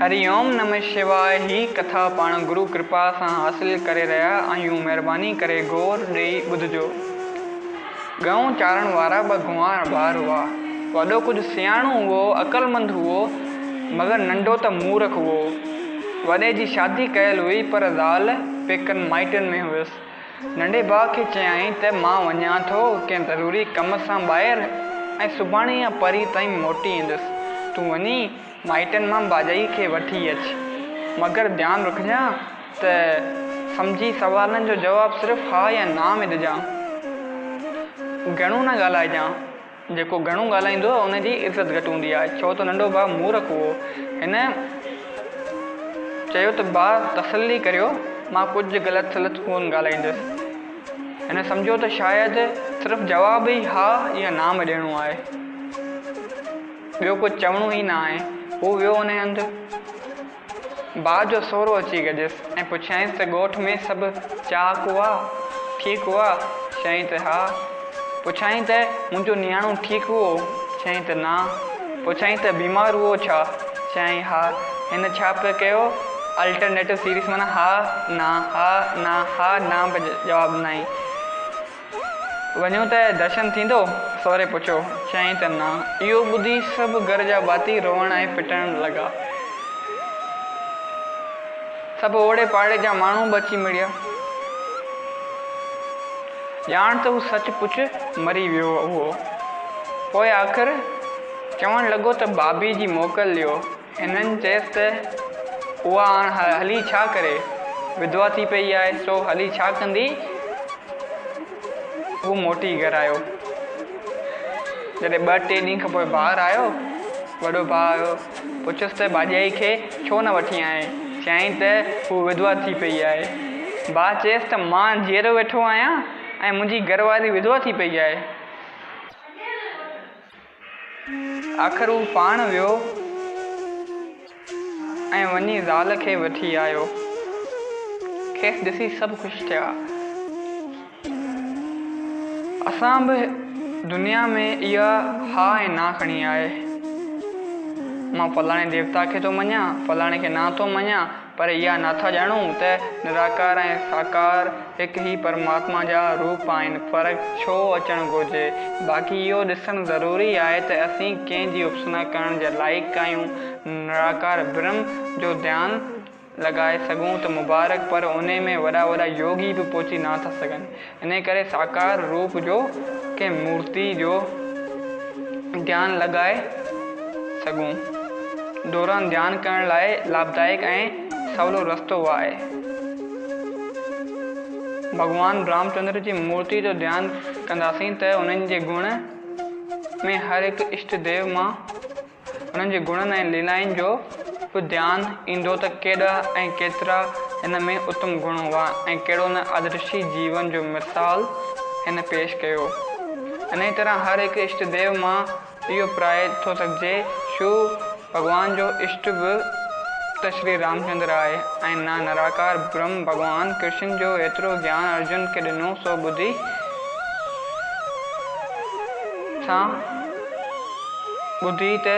هري اوم نمه شواء هي ڪٿا پاڻ گرو ڪرپا سان حاصل ڪري رهيا آهيون مهرباني ڪري غور ڏئي ٻڌجو. ڳئون چارڻ وارا ٻه گنوار ٻار هئا. وڏو ڪجهه سياڻو هئو عقلمند هئو مگر ننڍو ته مورک هئو. وڏي جي شادي ڪيل هئي پر زال پيڪن مائٽن ۾ هيس. ننڍي ڀاء کي چيائين ته مان وڃان ٿو ڪنهن ضروري ڪم سان ٻاهر ۽ سڀاڻي يا پرين تائين موٽي ايندس. تون وڃي مائٽن مان باجائيء کي وٺي اچ. مگر ڌيان رکجان ته سمجهي سوالن جو جواب صرف ها يا نا ۾ ڏجان. گهڻو نه ڳالهائجان. جيڪو گهڻو ڳالهائيندو آهي ان جي عزت گهٽ هوندي آهي ڇو ته ننڍو ڀاء مورک هئو. هن چيو ته ڀاء تسلي ڪريو مان ڪجهه غلط سلط ڪون ڳالهائيندس. هن سمجهيو ته شايد صرف جواب ئي ها يا نا ۾ ڏيڻو آهي. ٻيو ڪجهه چوڻو ئي ناهي. هو ويو انهيء هنڌ. ڀاء جو سهرو اچي گڏيس ۽ پڇيائينس ته ڳوٺ ۾ سڀ چاهه ڪوئا ٺيڪ هئا؟ چيائين ته ها. پڇيائين ته منهنجو نياڻو ٺيڪ هئو؟ چيائين ته نا. پڇيائين ته بيمار هئو ڇا؟ چيائين ها. هن ڇا پئي ڪيو؟ الٽرنيٽو سيريس معنيٰ ها، نا، ها، نا، ها، نا پئي جواب ڏنائين. وڃون ته درشن ٿيندو؟ سهري پڇيو. چيائين ته نه. اهو ٻڌي سڀ گهر جا ڀاتي روئڻ ۽ پٽڻ لڳا. سڀ اوڙي پاڙي جا ماڻهو به اچي مڙيا. ڄاڻ ته هو سچ پچ مري ويو هئو. پوء آخر چوڻ لڳو ته بابي جي موڪل ڏيو. هنن چيس ته، اها هاڻ هلي ڇا ڪري؟ وڌوا ٿي پيئي آهي، سو هلي ڇا ڪندي؟ هو موٽي گهر آيو. جڏهن ٻه ٽي ڏينهن کانپوء ٻاهر آيو، وڏو ڀاء آيو، پڇيس ته، ڀاڄائي کي ڇو نه وٺين آئين؟ چيائين ته، هوء وڌوا ٿي پيئي آهي. ڀاء چيس ته، مان جيئرو ويٺو آهيان ۽ منهنجي گهر واري وڌوا ٿي پيئي آهي. آخر هو پاڻ ويو ۽ وڃي زال کي وٺي آيو. کيس ڏسي سڀ خوش ٿيا. اسان به دنيا ۾ اها ها ۽ نا کڻي آهي. مان فلاڻي ديوتا کي ٿو مڃان، فلاڻي کي نا ٿو مڃان، پر اها ناٿا ڄاڻون ته نراڪار ۽ ساڪار هڪ ئي پرماتما جا روپ آهن، فرق ڇو اچڻ گهرجي؟ باقي اهو ڏسڻ ضروري آهي ته اسين ڪنهن جي اپسنا ڪرڻ جي لائق آهيون؟ نراڪار برهم جو ڌيان لڳائي سگهون ته مبارڪ پر انهي ۾ وڏا وڏا يوگي به پهچي ناٿا سگهن. انهيء ڪري ساڪار روپ جو ڪنهن مورتيء جو ڌيان لڳائي سگهون. دوران ڌيان ڪرڻ لاء لاڀدائڪ ۽ سولو رستو اهو آهي. ڀڳوان رامچندر جي مورتيء جو ڌيان ڪنداسين ته انهن جي گڻ ۾ هر هڪ اشٽ ديو مان انهن جي گڻن ۽ ليلائن جو به ڌيان ايندو ته ڪيڏا ۽ ڪيترا هن ۾ اتم گڻ هئا ۽ ڪهڙو نه آدرشي جيون جو مثال هن پيش ڪيو. انهيء طرح هر هڪ اشٽ ديو مان اهو پرائي ٿو سگهجي شو ڀڳوان جو اشٽ به ته شري رامچندر آهي ۽ نه نراڪار برهم ڀڳوان ڪرشن جو ايترو گيان ارجن کي ڏنو سو ٻڌي سان ٻڌي ته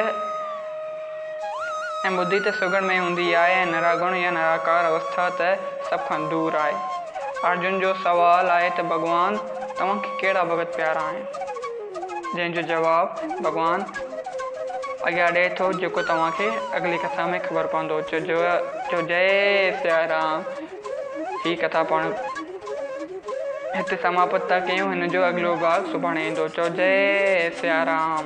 ۽ ٻڌي ته سگهڙ ۾ هوندي آء ۽ نراگڻ يا نراڪار اوسٿا ته سڀ کان دور آء. ارجن جو سوال آء ته ڀڳوان توهان کي ڪهڙا ڀڳت پيارا آهن؟ جنهن جو جواب ڀڳوان اڳيان ڏئي ٿو جيڪو توهان کي اڳلي ڪٿا ۾ خبر پوندو. چوجئي سياء رام! هي ڪٿا پاڻ هتي سماپت ٿا ڪيون هن جو اڳلو ڀاڳ سڀاڻي ايندو چئو جئي سيارام.